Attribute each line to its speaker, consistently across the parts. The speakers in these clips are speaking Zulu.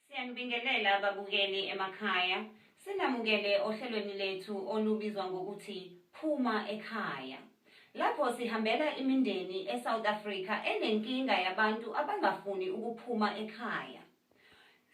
Speaker 1: Siyanibingelela ababukeli emakhaya. Sinamukele ohlelweni lethu olubizwa ngokuthi Phuma ekhaya. Lapho sihambela imindeni eSouth Africa enenkinga yabantu abangafuni ukuphuma ekhaya.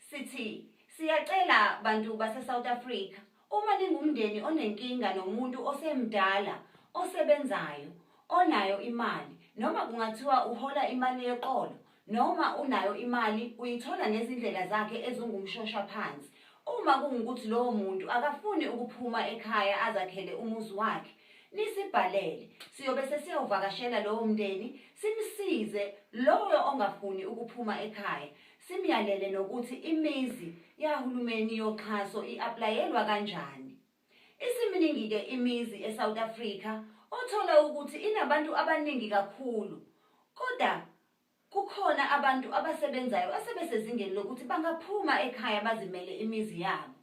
Speaker 1: Sithi siyacela bantu baseSouth Africa Uma ningumndeni onenkinga nomuntu osemdala, osebenzayo, onayo imali, noma kungathiwa uhola imali yeqolo, noma unayo imali uyithola ngezindlela zakhe ezingumshosha phansi, uma kungukuthi lowo muntu akafuni ukuphuma ekhaya azakhele umuzi wakhe, nisibhalele, siyobe sesiyawuvakashela lowo mndeni, simsize loyo ongafuni ukuphuma ekhaya, Simyalele nokuthi imizi yahulumeni yoxhaso i-aplayelwa kanjani. Isiminingi-ke imizi eSouth Africa othola ukuthi inabantu abaningi kakhulu kodwa kukhona abantu abasebenzayo asebesezingeni lokuthi bangaphuma ekhaya bazimele imizi yabo.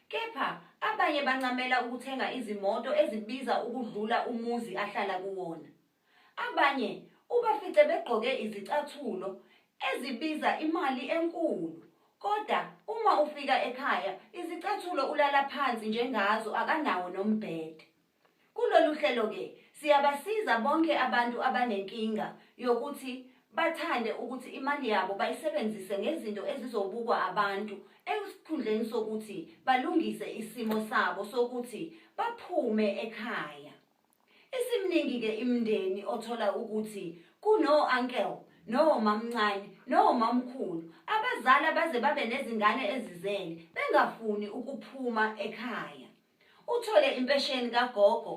Speaker 1: Kepha abanye bancamela ukuthenga izimoto ezibiza ukudlula umuzi ahlala kuwona. Abanye ubafice begqoke izicathulo ezibiza imali enkulu kodwa uma ufika ekhaya izicathulo ulala phansi njengazo akanawo nombhede. Kulolu hlelo-ke siyabasiza bonke abantu abanenkinga yokuthi bathande ukuthi imali yabo bayisebenzise ngezinto ezizobukwa abantu esikhundleni sokuthi balungise isimo sabo sokuthi baphume ekhaya. Isimningi ke imndeni othola ukuthi kuno uncle no mamncane no mamkhulu abazali abaze babe nezingane ezizele bengafuni ukuphuma ekhaya. Uthole impesheni kagogo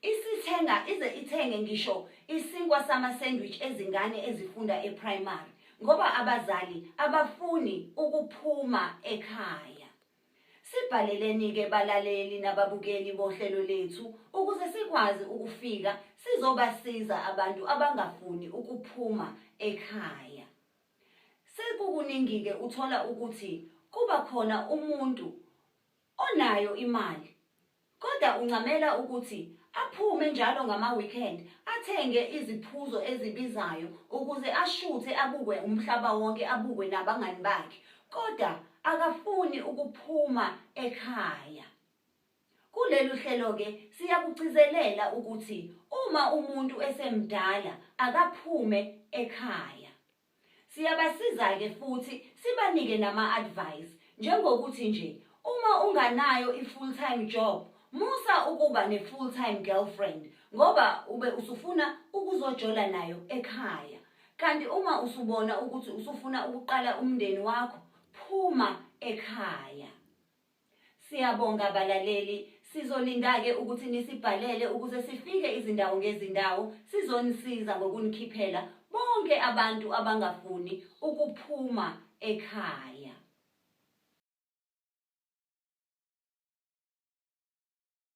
Speaker 1: isithenga ize ithenge ngisho isinkwa sama sandwich ezingane ezifunda eprimary ngoba abazali abafuni ukuphuma ekhaya. Sibhaleleni-ke balaleli nababukeli bohlelo lethu ukuze sikwazi ukufika sizobasiza abantu abangafuni ukuphuma ekhaya. Sekukuningi-ke uthola ukuthi kuba khona umuntu onayo imali Kodwa uncamela ukuthi aphume njalo ngama-weekend athenge iziphuzo ezibizayo ukuze ashuthe abukwe umhlaba wonke abukwe nabangani bakhe kodwa akafuni ukuphuma ekhaya. Kulelu hlelo-ke siyakugcizelela ukuthi uma umuntu esemdala akaphume ekhaya. Siyabasiza-ke futhi sibanike nama-advice njengokuthi nje uma unganayo i-full time job musa ukuba ne-full time girlfriend ngoba ube usufuna ukuzojola nayo ekhaya kanti uma usubona ukuthi usufuna ukuqala umndeni wakho phuma ekhaya. Siyabonga balaleli, sizolinda-ke ukuthi nisibhalele ukuze sifike izindawo ngezindawo sizonisiza ngokunikhiphela bonke abantu abangafuni ukuphuma ekhaya.